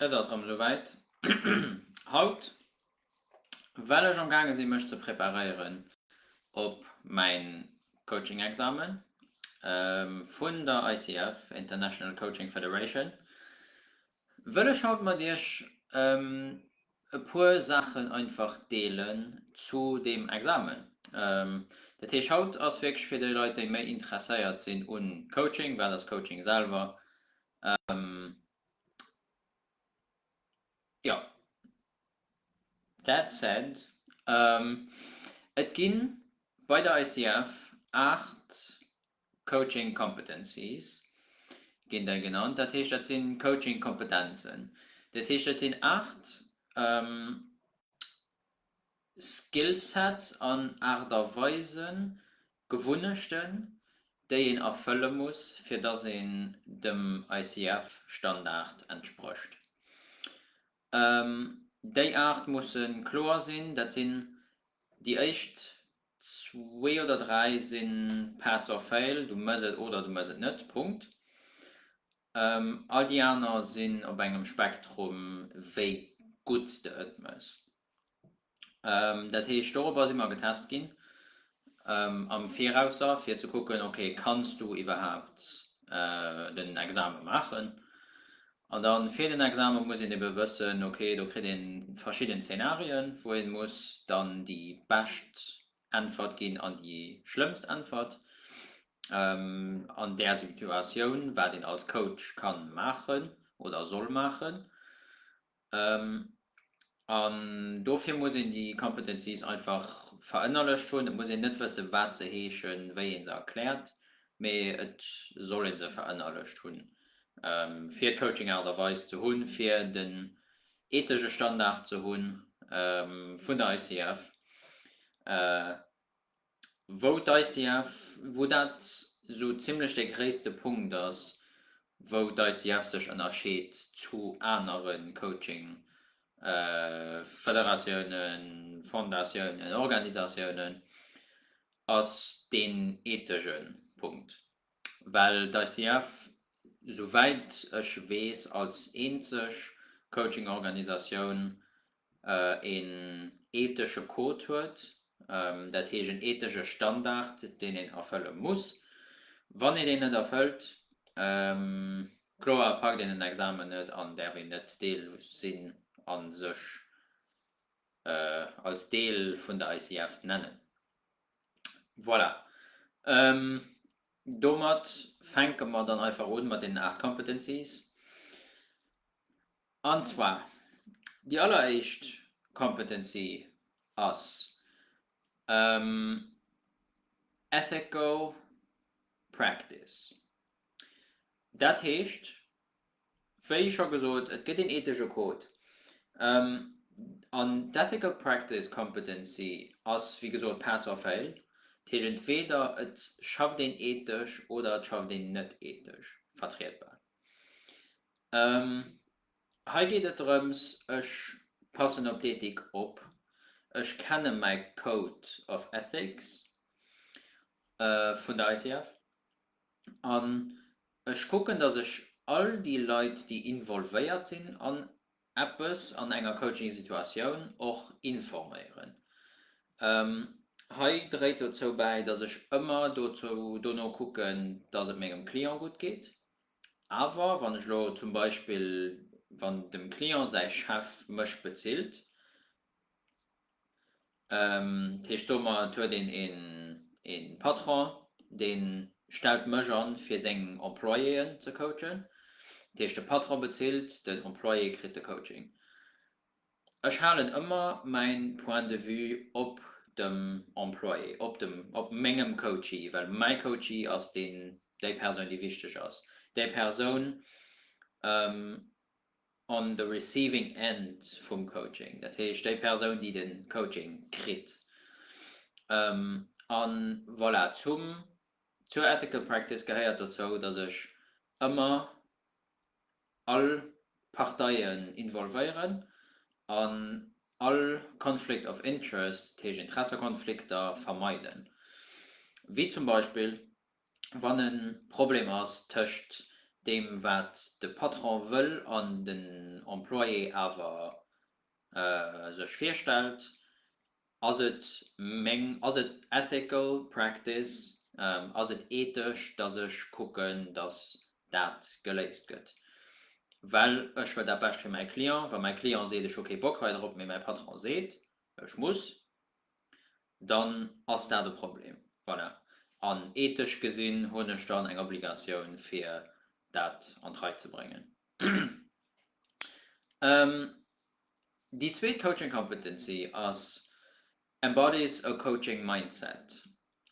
Et ass rem esou wäit. Haut well ech am gaange sinn mech ze preparéieren op mäin Coaching Examen vun der ICF, International Coaching Federation, wëll ech haut mat iech E puer Saachen einfach deelen zu deem Examen. Dat heescht, haut ass wierklech fir déi Leit, déi méi interesséiert sinn u Coaching, wat ass Coaching selwer, jo, that said, et gi bei der ICF 8 Coaching Competencies ginn déi genannt. Dat heescht, dat si Coaching Kompetenzen. Dat heescht, dat sinn aacht Skill Sets an Aart a Weisen, Gewunnechten, déi een erfëlle muss, fir dass een dem ICF Standard entsprécht. Déi aacht musse kloer sinn. Dat sinn déi éischt Zwee oder dräi sinn Pass or Fail, du mëss et oder du mëss et net, Punkt. All déi aner sinn op engem Spektrum, wéi gutt s de et mëss. Dat heescht, dorobber si mer getest ginn am Virausser, fir ze kucken, ok, kanns du iwwerhaapt den Exame maachen? An dann fir den Examen muss een eben wëssen, ok, do kritt een verschidden Zeenarien wou een muss dann déi bescht Äntwert ginn an déi schlëmmst Äntwert an där Situatioun, wat een als Coach kann maachen oder soll maachen. An dofir muss een déi Competencies einfach verënnerlecht hunn. Et muss een net wëssen, wat se heeschen, wéi ee se erkläert, mee et soll ee se verënnerlecht hunn, fir d'Coaching-Aart a Weis ze hunn, fir den ethesche Standard ze hu vun der ICF. wou d'ICF, wou dat esou zimlech dee gréisste Punkt ass, wou d'ICF sech ënnerscheet zu anere Coaching-Federatiounen, Fondatiounen, Organisatiounen, ass deen eethesche Punkt. Well d'ICF, souwäit ech weess, als eenzeg Coaching-Organisatioun een ethesche Code huet, dat heescht een ethesche Standard, deen een erfëlle muss. Wann een deen net erfëllt, kloer, packt een den Examen net an däerf een net Deel sinn a sech als Deel vun der ICF nennen. Voilà, domat fänke mer dann einfach u mat deenen aacht Competencies. An zwar, déi alleréischt Competency ass Ethical Practice. Dat heescht, wéi scho gesot, et gëtt een eethesche Code. An d'Ethical Practice Competency ass, wéi gesot, pass or fail. Dat heescht, entweeder et schafft een eethesch oder et schafft een net eethesch vertrietbar. Hei geet et drëms, ech passen op d'Ethik op, ech kenne mäi Code of Ethics vun der ICF an ech kucken, datt ech all déi Leit, déi involvéiert sinn an eppes, an enger Coaching-Situatioun, och informéieren. Hei dréit dozou bäi, datt ech ëmmer dono kucken, datt et mengem Client gutt geet, Awer wann ech elo zum Beispill, wann dem Client säi Chef mech bezilt, dat heescht soe mer et huet een ee Patron, dee stellt mech an fir seng Employéen ze coachen, dat heescht de Patron bezilt, den Employé kritt de Coaching. Ech halen ëmmer mäin Point de vue op dem Employé, op dem, op mengem Coachee, well mäi Coachee ass deen, déi Persoun déi wichteg ass, déi Persoun on the receiving end vum Coaching, dat heescht déi Persoun déi den Coaching kritt. An voilà, zum, zur ethical practice gehéiert dozou, dass ech ëmmer all Parteien involvéieren an all conflict of interest, dat heescht Interessekonflikter, vermeiden. Wéi zum Beispill wann e Problem ass tëscht deem wat de Patron wëll an den Employé awer sech virstellt. Ass et meng, ass et ethical practice, ass et ethesch, datt ech kucken, datt dat geléist gëtt, well ech wëll dat Bescht fir mäi Client. Wa mäi Client seet, ech hu kee Bock hei drop, mee mäi Patron seet, ech muss, dann ass dat e Problem. Voilà. An ethesch gesinn hunn ech dann eng Obligatioun, fir dat an d'Rei ze bréngen. Déi zweet Coaching Competency ass Embodies a Coaching Mindset.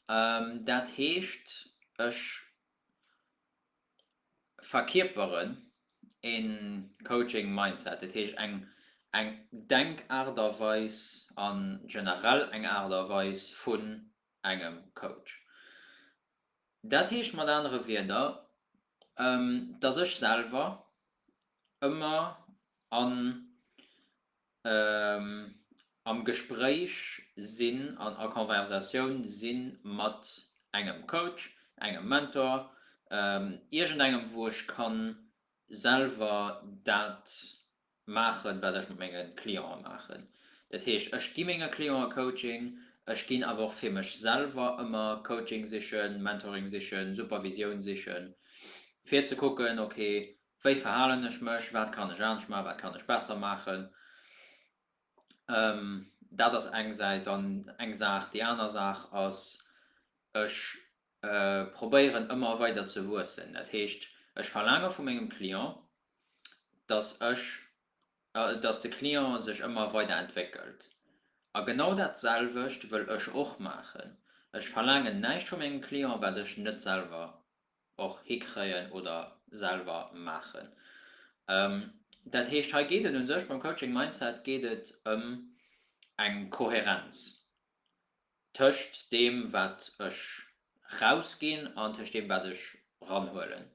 Dat heescht, ech verkierperen e Coaching Mindset, dat heescht eng eng Denkaart a Weis a generell eng Aart a Weis vun engem Coach. Dat heescht mat anere Wierder, dass ech selwer ëmmer an am Gespréich sinn an a Conversatioun si mat engem Coach, engem Mentor, iergendengem wou ech kann selwer dat maachen, wat ech mat menge Clientë maachen. Dat heescht, ech gi menge Clientë Coaching, ech ginn awer och fir mech selwer ëmmer Coaching sichen, Mentoring sichen, Supervisioun sichen, fir ze kucken, ok, wéi verhalen ech mech, wat kann ech anescht maachen, wat kann ech besser maachen. Dat ass eng Säit. Dann eng Saach. Déi aner Saach ass, ech probéieren ëmmer weider ze wuessen. Dat heescht, ech verlaange vu mengem Client, dass ech, dass de Client sech ëmmer weider entwéckelt. A genau dat selwecht wëll ech och maachen. Ech verlaangen näischt vu mengem Client, wat ech net selwer och hikréien oder selwer maachen. Dat heescht, hei geet et u sech beim Coaching Mindset geet et ëm eng Kohärenz. tëscht deem wat ech rausginn an tëscht deem wat ech ranhuelen.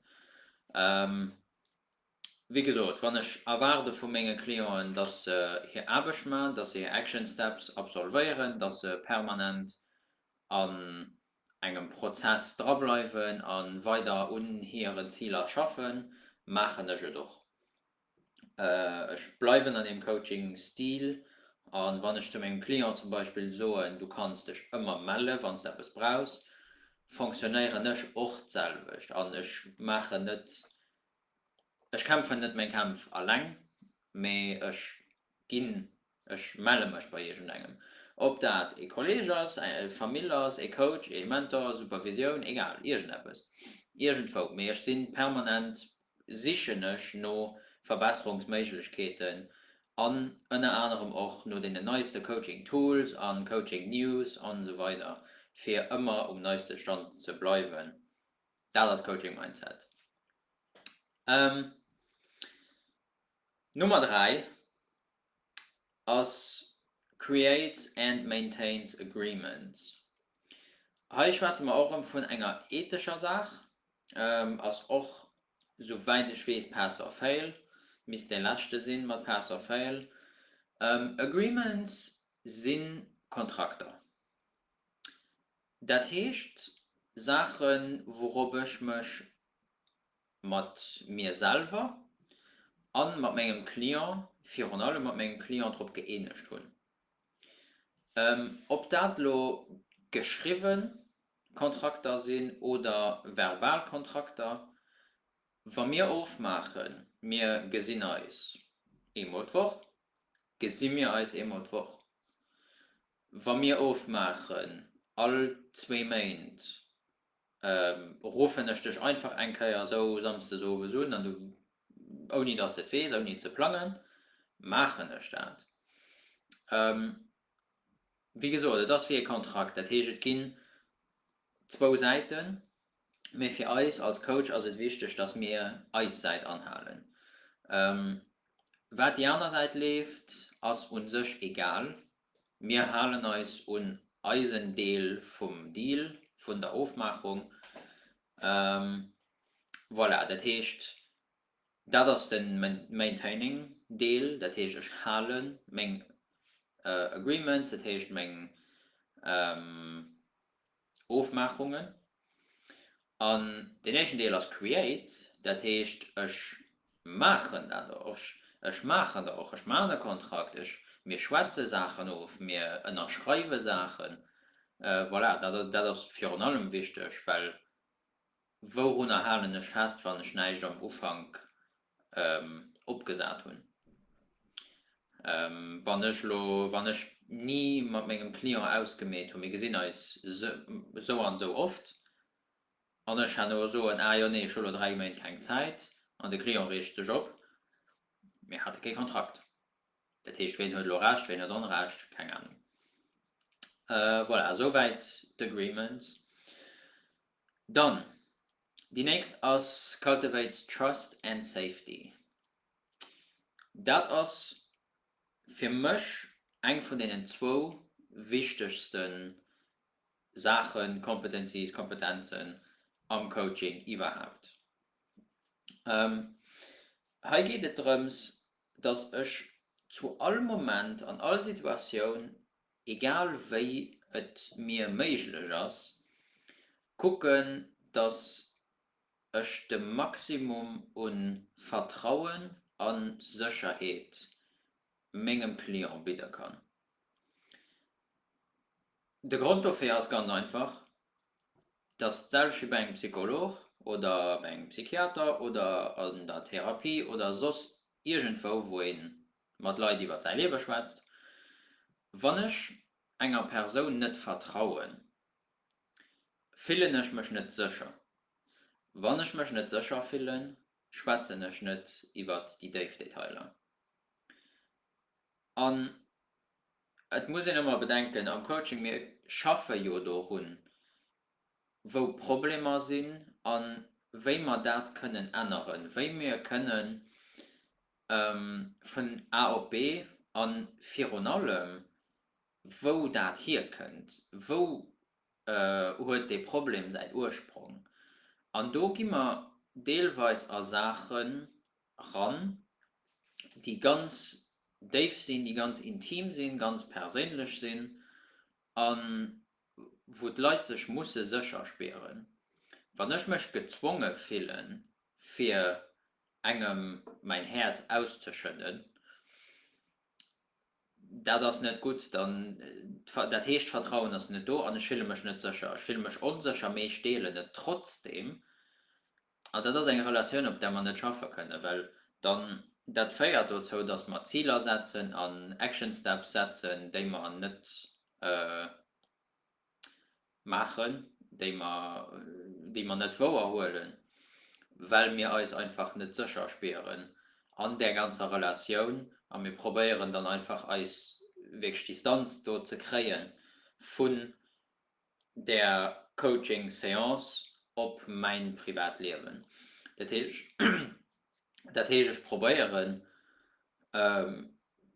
Wéi gesot, wann ech erwaarde vu menge Clienten, datt se hir Aarbecht maachen, datt se hir Action Steps absolvéieren, datt se permanent an engem Prozess drableiwen a weider un hiren Ziler schaffen, maachen ech et och. Ech bleiwen an deem Coaching-Stil a wann ech zu mengem Client zum Beispill soen, du kanns dech ëmmer melle wann s de eppes brauchs, fonctionnéieren ech och d'selwecht an ech maachen net, ech kämpfen net meng Kämpf alleng, mee ech. ginn, ech melle mech bei iergendengem, ob dat ee Kolleeg ass, eng Famill ass, ee Coach, ee Mentor, Supervisioun, egal, iergendeppes, iergendwou, mee ech sinn permanent, sichen ech no Verbesserungsméiglechkeeten an ënner anerem och no deenen neiste Coaching Tools a Coaching News an esou weider fir ëmmer um neiste Stand ze bleiwen. Dat ass Coaching Mindset. Nummer 3 ass creates and maintains agreements. Hei schwätze mer och erëm vun enger ethescher Saach. Ass och, sou wäit ech weess, pass or fail, misst dee leschte sinn mat pass or fail. Agreements si Kontrakter, dat heescht Saachen, wourop ech mech mat mir selwer a mat mengem Client, virun allem mat mengem Client, drop gëeenegt hunn. Ob dat elo geschriwwen Kontrakter sinn oder verbal Kontrakter, wa mir ofmaachen, mir gesinn eis eemol d'Woch, gesi mir eis eemol d'Woch. Wa mir ofmaachen all zwee Méint, Ruffen ech dech einfach eng Kéier esou samsdes owes un an du, ouni dass de et weess, ouni et ze plangen, maachen ech dat. Wéi gesot, et ass wéi e Kontrakt, dat heescht, et ginn zwou Säiten, mee fir eis als Coach ass et wichteg, dass mir eis Säit anhalen. Wat déi aner Säit leeft, ass u sech egal. Mir halen eis un eisen Deel vum Deal, vun der Ofmaachung. Voilà, dat heescht, dat ass de maintaining Deel, dat heescht, ech hale meng agreements, dat heescht meng. Ofmaachungen an deen éischten Deel ass create, dat heescht ech maachen dat och, ech maachen der och, ech maachen e Kontrakt, ech, mir schwätze Saachen of, mir ënnerschreiwe Saachen. Voilà, dat ass virun allem wichteg, well wourunner halen ech fest, wann ech näischt am Ufank opgesat hunn. Wann ech elo, wann ech ni mat mengem Client ausgemeet hunn, mir gesinn eis esou an esou oft, an ech herno soen, ah jo, nee, ech hu elo dräi Méint keng Zäit, an de Client reegt sech op, mir hate kee Kontrakt. Dat heescht, wien huet elo Recht, wien huet Onrecht? Keng Anung. Voilà, esouwäit d'Agreements. Dann déi nächst ass Cultivates Trust and Safety. Dat ass fir mech eng vun deenen zwou wichtegste Saachen, Competencies, Kompetenzen am Coaching iwwerhaapt. Hei geet et drëms, dass ech zu all Moment, an all Situatioun egal wéi et mir méiglech ass, kucken, dass ech de Maximum u Vertrauen a Sécherheet mengem Client bidde kann. De Grond dofir ass ganz einfach, dass d'selwecht wéi bei engem Psycholog oder bei engem Psychiater oder an der Therapie oder soss iergendwou, wou ee mat Leit iwwert säi Liewe schwätzt, wann ech enger Persoun net vertrauen, fillen ech mech net sécher. Wann ech mech net sécher fillen, schwätzen ech net iwwert déi déif Detailer. An et muss een ëmmer bedenken am Coaching, mir schaffe jo dorun, wou d'Problemer sinn a wéi mer dat kënnen änneren, wéi mir kënnen, Vun A op B a virun allem, wou dat hierkënnt. Wou huet dee Problem säin Ursprong? An do gi mer deelweis a Saache ran, déi ganz déif sinn, déi ganz intim sinn, ganz perséinlech sinn a wou d'Leit sech musse sécher spieren. Wann ech mech gezwonge fillen, fir engem mäin Häerz auszeschëdden, dat ass net gutt, dann, dat heescht d'Vertrauen ass net do an ech fille mech net sécher. Ech fille mech onsécher, mee ech deelen et trotzdeem an dat ass eng Relatioun, op där mer net schaffe kënnen, well dann, dat féiert dozou, datt mer Ziler setzen an Action Steps setzen, déi mer net maachen, déi mer, déi mer net wouer huelen, well mir eis einfach net sécher spieren an där ganzer Relatioun a mir probéieren dann einfach eis wierklech Distanz do ze kréie vun där Coaching-Seance op mäin privat Liewen. Dat heescht, dat heescht ech probéieren,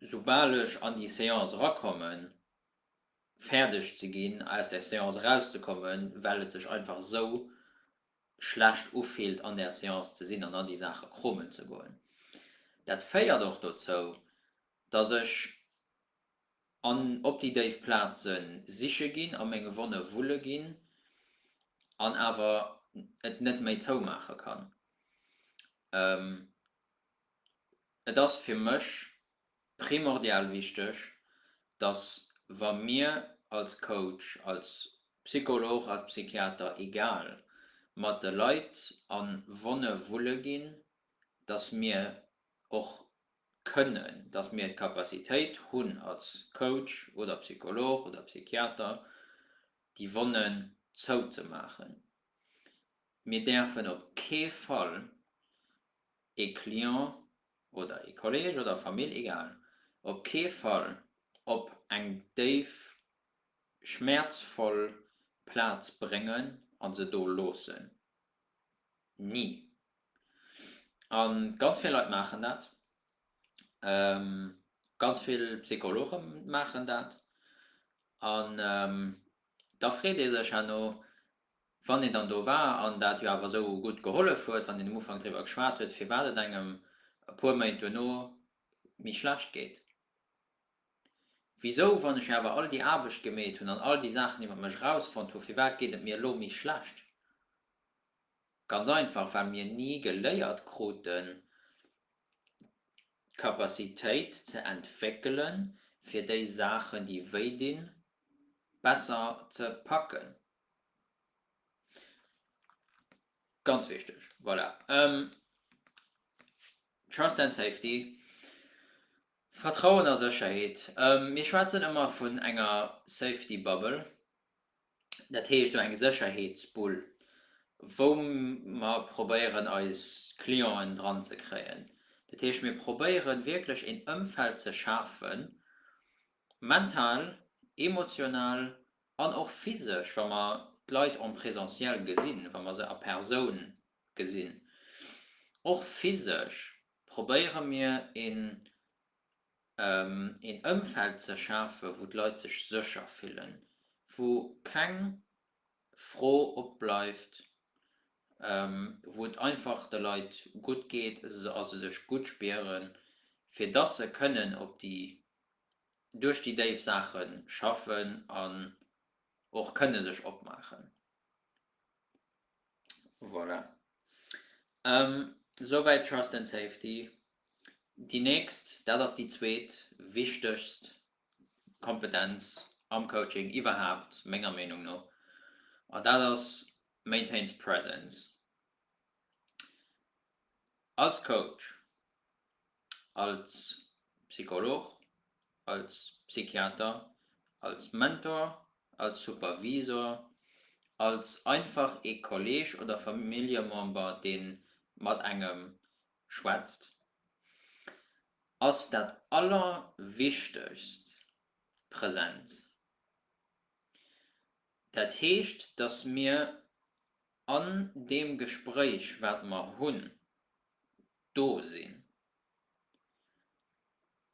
soubal ech an déi Seance erakommen, fäerdeg ze ginn, aus där Seance erauszekommen, well et sech einfach esou schlecht ufillt an där Seance ze sinn an da déi Saache kromen ze goen. Dat féiert och dozou, datt ech an op déi déif Plaze siche ginn, a menge Wonne wulle ginn an awer et net méi zoumaache kann. Et ass fir mech primordial wichteg, dass wa mir als Coach, als Psycholog, als Psychiater, egal, mat de Leit a Wonne wulle ginn, dass mir och kënnen, dass mir d'Capacitéit hunn als Coach oder Psycholog oder Psychiater déi Wonnen zouzemaachen. Mir däerfen op kee Fall ee Client oder ee Kolleg oder Famill, egal, op kee Fall op eng déif schmäerzvoll Plaz bréngen a se do loossen. Ni. A ganz vill Leit maachen dat. Ganz vill Psychologe maachen dat. An da freet ee sech herno, Wann een dann do war an dat jo awer esou gutt gehollef huet, wann een um Ufank driwwer geschwat huet, firwat et engem e puer Méint duerno méi schlecht geet. Wisou, wann ech jo awer all déi Aarbecht gemeet hunn an all déi Saachen iwwer mech erausfonnt hunn, firwat geet et mir elo méi schlecht? Ganz einfach, well mir ni geléiert kruten, d'Capacitéit ze entwéckelen, fir déi Saachen, déi wéi dinn, besser ze packen. Ganz wichteg, voilà. Ähm, Trust and Safety, Vertrauen a Sécherheet. Ähm, mir schwätzen ëmmer vun enger Safety Bubble, dat heescht esou eng Sécherheetsbull, wou mer probéieren eis Clienten dran ze kréien. Dat heescht, mir probéiere wierklech een Ëmfeld ze schafen, mental, emotional An och physesch, wa mer d'Leit en présentiel gesinn, wa mer se a Persoun gesinn, och physesch probéiere mir een Ëmfeld ze schafen, wou d'Leit sech sécher fillen, wou keng Fro opbleift, wou et einfach de Leit gutt geet a se sech gutt spieren, fir dass se kënnen op déi duerch déi déif Saache schaffen an och kënne sech opmaachen. Voilà. Souwäit Trust and Safety. Déi nächst, dat ass déi zweet wichtegst Kompetenz am Coaching iwwerhaapt, menger Meenung no, an dat ass Maintains Presence. Als Coach als Psycholog, als Psychiater, als Mentor, als Supervisor, als einfach ee Kolleeg oder Familljemember, dee mat engem schwätzt, ass dat Allerwichtegst d'Presenz. Dat heescht, datt mir an deem Gespréich, wat mer hunn, do sinn.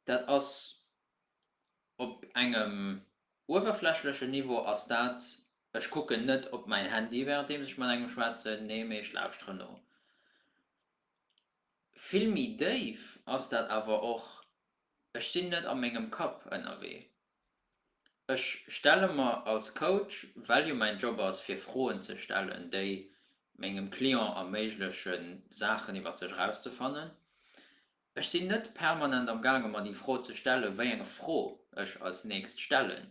Dat ass op engem uewerflächlechen Niveau ass dat, ech kucken net op mäin Handy währenddeems ech mat engem schwätzen, nee, mee ech lauschteren no. Vill méi déif ass dat awer och, ech sinn net a mengem Kapp ënnerwee. Ech stelle mer als Coach, well jo mäin Job ass fir Froen ze stellen, déi mengem Client erméiglechen Saachen iwwer sech erauszefannen, ech sinn net permanent am gaange mer déi Fro ze stellen, wéi eng Fro ech als nächst stellen,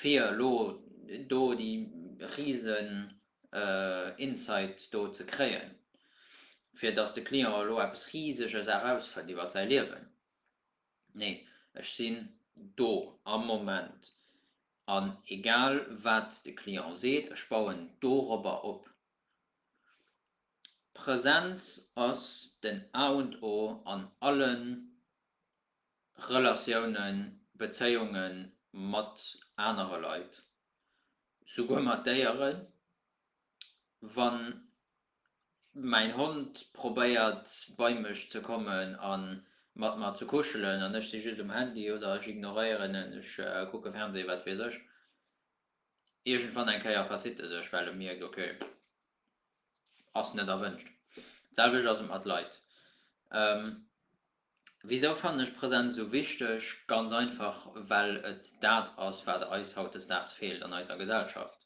fir elo do déi risen Insight do ze kréien, fir datt de Client elo eppes riseges erausfënnt iwwer säi Liewen. Nee, ech sinn do am Moment, an egal wat de Client seet, ech bauen dorobber op. D'Presenz ass den A und O an alle Relatiounen, Bezéiunge mat anere Leit, souguer mat Déieren, wann Mäin Hond probéiert bei mech ze kommen a mat mer ze kuschelen an ech si just um Handy oder ech ignoréieren en, ech kucke Fernseh, wat weess ech. Iergendwann eng Kéier verzitt e sech, well e mierkt, ok, ass net erwënscht. D'selwecht ass et mat Leit. Wisou fannen ech Präsenz esou wichteg? Ganz einfach, well et dat ass, wat eis hautdesdaags feelt an eiser Gesellschaft.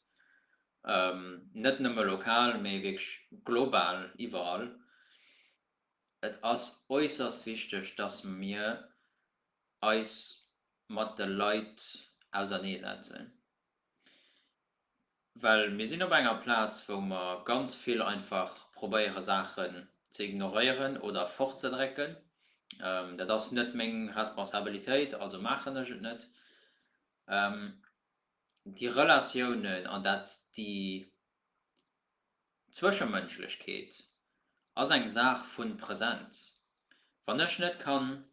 Net nëmme lokal, mee wierklech global, iwwerall. Et ass äusserst wichteg, dass mir eis mat de Leit auserneesetzen. Well mir sinn op enger Plaz, wou mer ganz vill einfach probéiere Saachen ze ignoréieren oder fortzedrécken. Dat ass net meng Responsabilitéit, also maachen ech et net. Déi Relatiounen an dat, déi Zwëschemënschlechkeet ass eng Saach vu Präsenz. Wann ech net kann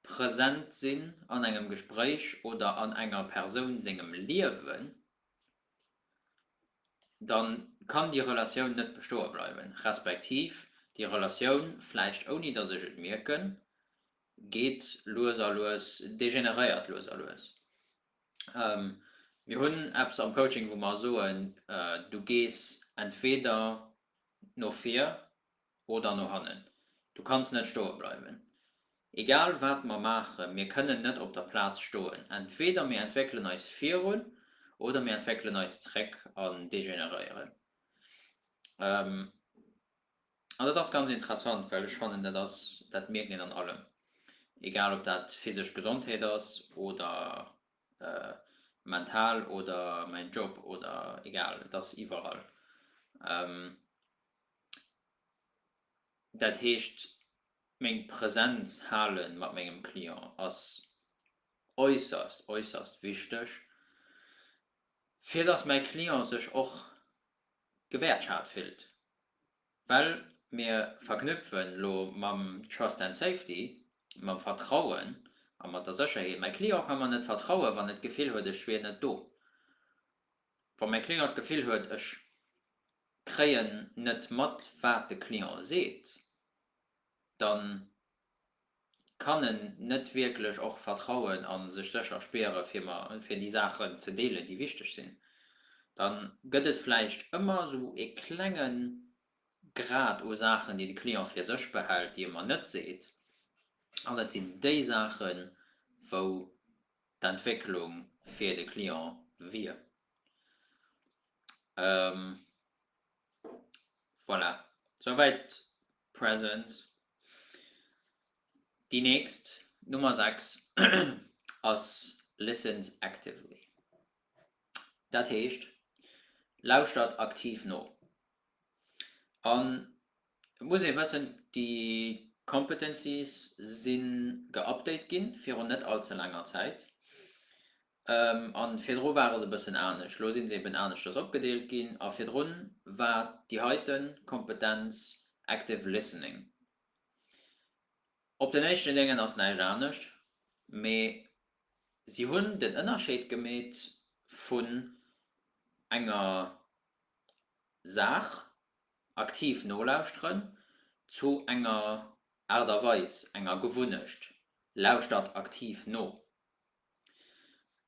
Present sinn an engem Gespréich oder an enger Persoun sengem Liewen, da kann déi Relatioun net bestoe bleiwen, respektiv déi Relatioun, vläicht ouni datt ech et mierken, geet lues a lues, degeneréiert lues a lues. Mir hunn eppes am Coaching, wou mer soen, du gees entweder no vir, Oder no hannen. Du kanns net stoe bleiwen. Egal wat mer maachen, mir kënnen net op der Plaz stoen. Entweder mir entwéckelen eis virun oder mir entwéckelen eis zréck an degeneréieren. An dat ass ganz interessant, well ech fannen, dat ass, dat mierkt een an allem, egal ob dat physesch Gesondheet ass oder mental oder mäin Job oder egal, et ass iwwerall. Dat heescht, meng Präsenz hale mat mengem Client ass äusserst, äusserst wichteg, fir dass mäi Client sech och gewäertschat fillt. Well mir verknüpfen elo mam Trust and Safety, mam Vertrauen a mat der Sécherheet. Mäi Client ka mer net vertrauen, wann e d'Gefill huet, ech wier net do. Wa mäi Client d'Gefill huet, ech kréien net mat, wat de Client seet, da kann en net wierklech och vertrauen a sech sécher spiere fir déi Saachen ze deelen, déi wichteg sinn. Da gëtt et vläicht ëmmer esou e klenge Grad u Saachen, déi de Client fir sech behält, déi e mer net seet, an et sinn déi Saachen, wou d'Entwécklung fir de Client wier. Voilà, souwäit d'Presence. Déi nächst, d'Nummer 6, ass Listens actively. Dat heescht, lauschtert aktiv no. An et muss ee wëssen, déi Competencies si geupdate gi virun net all ze laanger Zäit. An virdru ware se e bëssen anescht. Elo si se eben aneschters opgedeelt ginn. A virdru war déi heite Kompetenz active listening. Op den éischte Ligne ass näischt anescht, mee si hunn den Ënnerscheed gemeet vun enger Saach, aktiv nolauschteren, zu enger Aart a Weis, enger Gewunnecht, lauschtert aktiv no.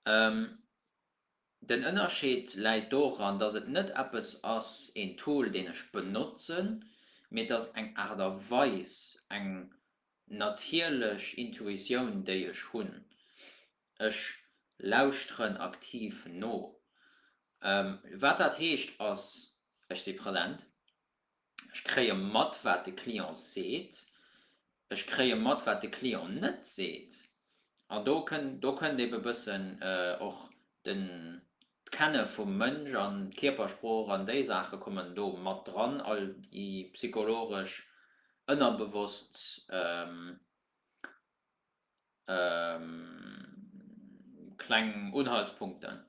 Den Ënnerscheed läit doran, dass et net eppes ass, een Tool, deen ech benotzen, mee et ass eng Aart a Weis, eng natierlech Intuitioun, déi ech hunn. Ech lauschteren aktiv no. Wat dat heescht ass, Ech si present. Ech kréie mat, wat de Client seet. Ech kréie mat, wat de Client net seet. An do kënnt, do kënnt ebe bëssen och den, d'Kenne vum Mënsch an d'Kierpersprooch an déi Saache kommen do mat dran, all déi psychologesch ënnerbewosst Kleng Unhaltspunkten,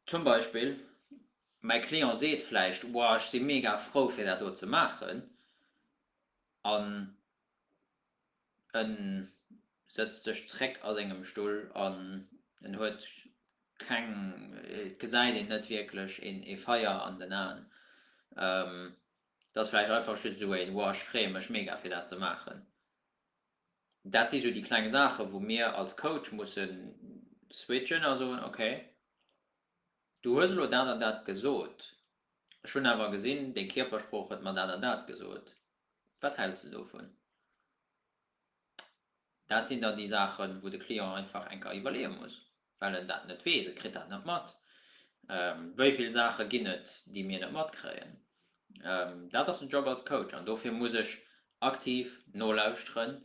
zum Beispill, mäi Client seet vläicht, Wow, ech si mega frou fir dat do ze maachen, an e sëtzt sech zeréck a sengem Stull an en huet keng, et gesäit een net wierklech ee Feier an den Aen. Dat ass vläicht einfach just esou en Woah, ech freeë mech mega fir dat ze maachen. Dat si sou déi kleng Saachen, wou mir als Coach mussen switchen a soen, okay, du hues elo dat an dat gesot, ech hunn awer gesinn, deng Kierpersprooch huet mer dat an dat gesot, wat häls de dovun? Dat sinn dann déi Saachen, wou de Client einfach eng Kéier iwwerleeë muss, well en dat net weess. E kritt dat net mat, wéi vill Saache ginn et, déi mir net matkréien. Dat ass den Job als Coach an dofir muss ech aktiv nolauschteren,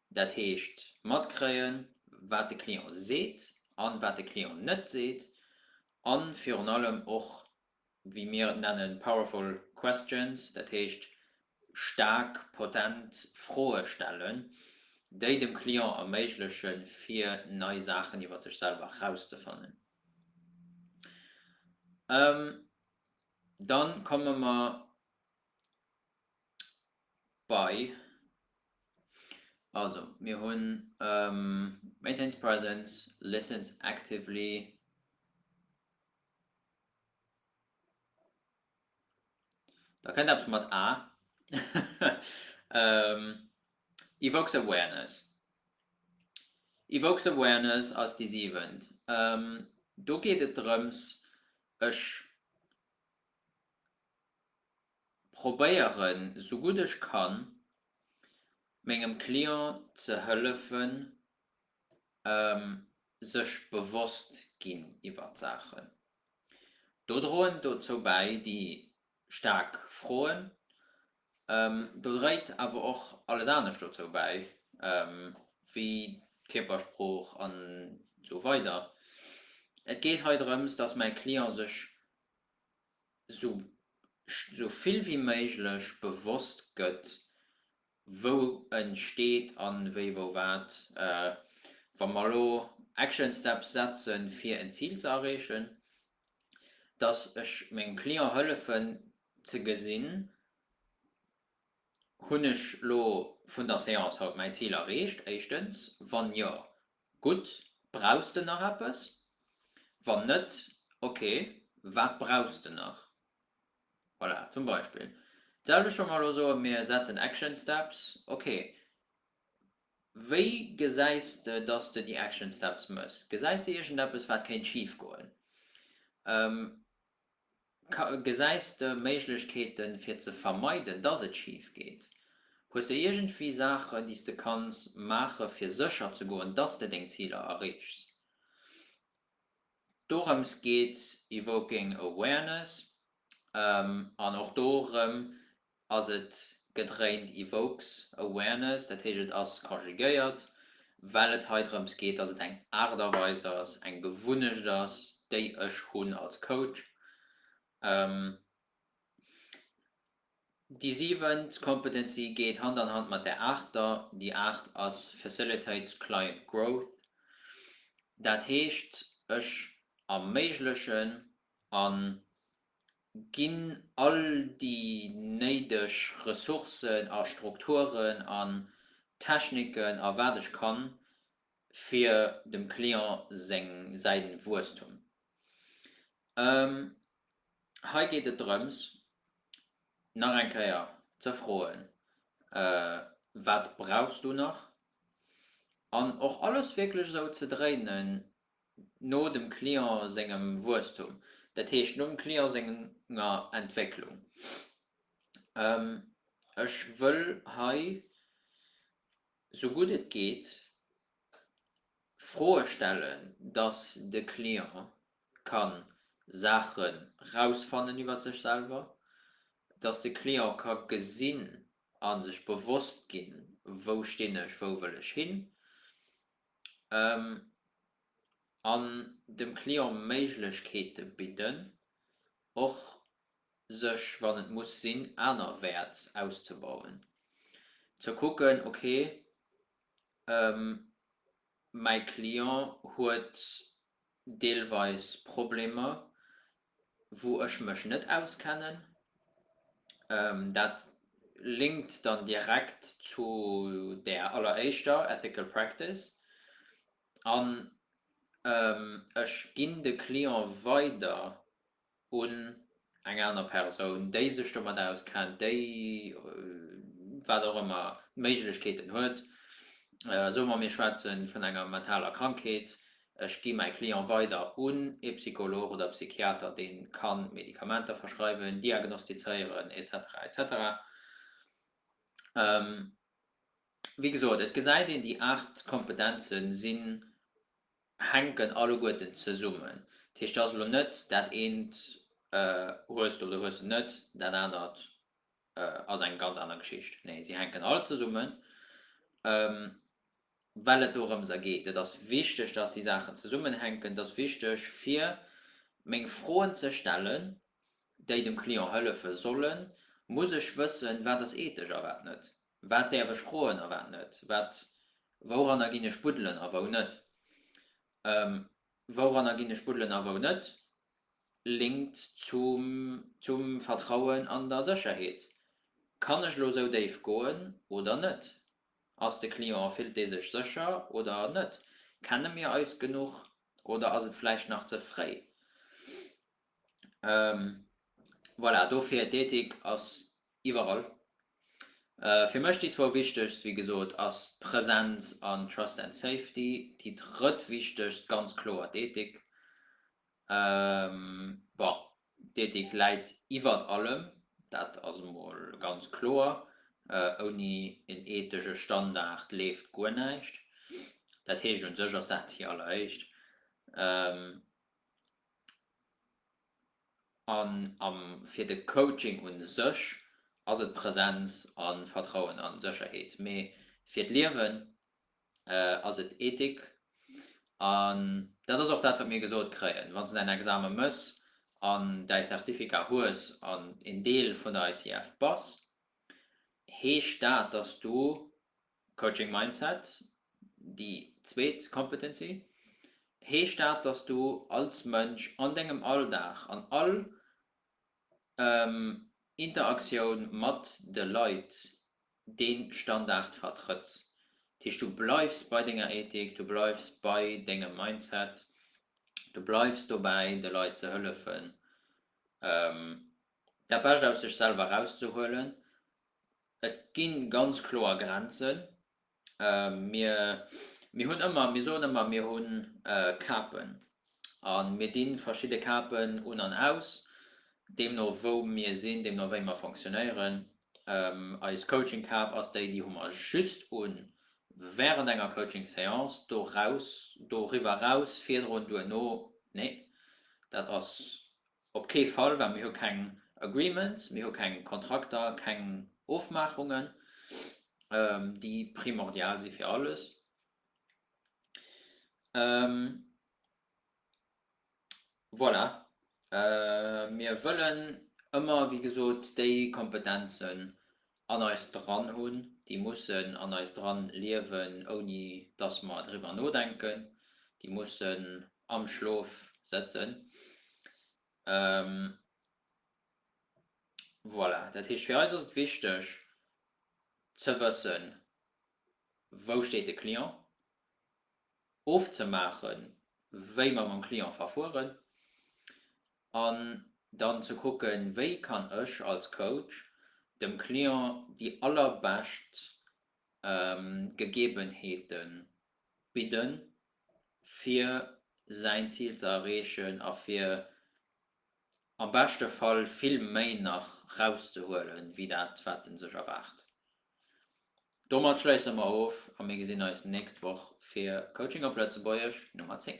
dat heescht matkréien, wat de Client seet an wat de Client net seet a virun allem och wéi mir et nennen, powerful questions, dat heescht staark, potent Froe stellen, déi dem Client erméiglechen, fir nei Saachen iwwer sech selwer erauszefannen. Da komme mer bei, also mir hunn maintains presence, listens actively. Da kënnt eppes mat A. Evokes awareness. Evokes awareness ass déi siwent. Do geet et drëms, ech probéieren, sou gutt ech kann, mengem Client ze hëllefen, sech bewosst ginn iwwert Saachen. Do droen dozou bäi déi staark Froen. Do dréit awer och alles anescht dozou bäi, wéi d'Kierpersprooch an esou weider. Et geet hei drëms, dass mäi Client sech esou vill wéi méiglech bewosst gëtt, wou e steet a wéi wou wat, wa mer elo Action Steps setze fir en Zil ze erreechen, dass ech mengem Client hëllefen ze gesinn, hunn ech elo vun der Séance haut mäi Zil erreecht, éischtens, wann jo, gutt, brauchs de nach eppes, wann net, okay, wat brauchs de nach? Voilà, zum Beispill. D'selwecht wa mer elo soen, mir setzen Action Steps. Ok, wéi gesäis de, dass de déi Action Steps méchs? Gesäis de iergendeppes, wat kéint schif goen? Gesäis de Méiglechkeete fir ze vermeiden, dass et schif geet? Hues de iergendwéi Saachen, déi s de kanns maachen, fir sécher ze goen, dass de deng Ziler erreechs? Dorëms geet Evoking Awareness an och dorëm ass et gedréint, evokes awareness, dat heescht et ass conjugéiert, well et hei drëms geet, dass et eng Aart a Weis ass, eng Gewunnecht ass, déi ech hunn als Coach, Déi siwent Competency geet Hand an Hand mat der aachter. Déi aacht ass facilitate client growth. Dat heescht, ech erméiglechen a ginn all déi néideg Ressourcen a Strukturen an Techniken a wat ech kann, fir dem Client säin Wuesstum Hei geet et drëms, nach eng Kéier ze froen, Wat brauchs du nach? An och alles wierklech esou ze dréinen no dem Client sengem Wuesstum, dat heescht no dem Client senger Entwécklung. Ech wëll hei, sou gutt et geet, Froe stellen, dass de Client ka Saache rausfannen iwwer sech selwer, dass de Client ka gesinn a sech bewosst ginn, wou stinn ech, wou wëll ech hin, an dem Client Méiglechkeete bidden, och sech, wann et muss sinn, anerwäerts auszebauen, ze kucken, okay. Mäi Client huet deelweis Problemer, wou ech mech net auskennen. Dat linkt dann direkt zu där alleréischter, Ethical Practice, an ech ginn de Client weider. un eng aner Persoun, déi sech domat auskennt, déi wat och ëmmer d'Méiglechkeeten huet, soe mer, mir schwätze vun enger mentaler Krankheet, ech gi mäi Client weider un ee Psycholog oder Psychiater, dee ka Medikamenter verschreiwen, diagnostizéieren, etc. Etc. Wéi gesot, et gesäit een, déi aacht Kompetenze sinn hänken alleguerten zesummen. Dat heescht, et ass elo net, dat eent hues de oder hues de net, dat anert ass eng ganz aner Geschicht. Nee, si hänken all zesummen, well et dorëms a geet. Et ass wichteg, dass déi Saachen zesummenhänken. Et ass wichteg, fir meng Froen ze stellen, déi dem Client hëllefe sollen, muss ech wëssen, wat ass ethesch a wat net. Wat däerf ech froen a wat net? Wat, wouranner ginn ech buddelen a wou net? Ehm, wouranner ginn ech buddelen a wou net? Linkt zum, zum Vertrauen an der Sécherheet. Kann ech lo sou déif goen oder net? Ass de Client, fillt dee sech sécher oder net? Kenne mir eis genuch oder ass et vläicht nach ze fréi? Ehm, voilà, dofir, d'Ethik ass Iwwerall. Fir mech déi zwou wichtegst, wéi gesot, ass d'Presenz an Trust and Safety. Déi drëtt wichtegst, ganz kloer d'Ethik. Bon, d'Ethik läit iwwert allem, dat ass emol ganz kloer. Ouni en ethesche Standard leeft guer näischt. Dat heescht, u sech ass dat déi alleréischt. An am fir de Coaching un sech ass et Präsenz a Vertrauen a Sécherheet. Mee fir d'Liewen ass et Ethik. An dat ass och dat wat mir gesot kréien. Wann s de däin Examen mëss an däi Certificat hues an een Deel vun der ICF bass, heescht dat, dass du Coaching Mindset, déi zweet Competency, heescht dat, dass du als Mënsch an dengem Alldag, an all Interaktioun mat de Leit dee Standard vertrëtt. Dat heescht, du bleifs bei denger Ethik, du bleifs bei dengem Mindset, du bleifs dobäi de Leit ze hëllefen dat Bescht aus sech selwer erauszehuelen Et gi ganz kloer Grenzen. Mir, mir hunn ëmmer, mir soen ëmmer, mir hu Capen a mir di verschidde Capen un an aus, deemno wou mir sinn, deemno wéi mer fonctionnéieren. Eis Coaching-Cap ass déi, déi hu mer just un während enger Coaching-Séance. Doraus, doriwwer eraus, virdrun, duerno, nee, dat ass Op kee Fall, well mir hu keng Agreements, mir hu keng Kontrakter, keng Ofmaachungen, déi primordial si fir alles. Voilà. Mir wëllen ëmmer, wéi gesot, déi Kompetenzen an eis dran hunn, déi mussen an eis dran liewen, ouni dass mer driwwer nodenken, déi mussen am Schlof sëtzen. Voilà, dat heescht, fir eis ass et wichteg ze wëssen, wou steet de Client, ofzemaachen, wéi mer mam Client verfueren. An dann ze kucken, wéi kann ech als Coach dem Client déi allerbescht Gegebenheete bidden, fir säin Zil ze erreechen a fir am beschte Fall vill méi nach rauszehuelen, wéi dat wat e sech erwaart. Domat schléisse mer of a mir gesinn eis nächst Woch fir Coaching op Lëtzebuergesch Nummer 10.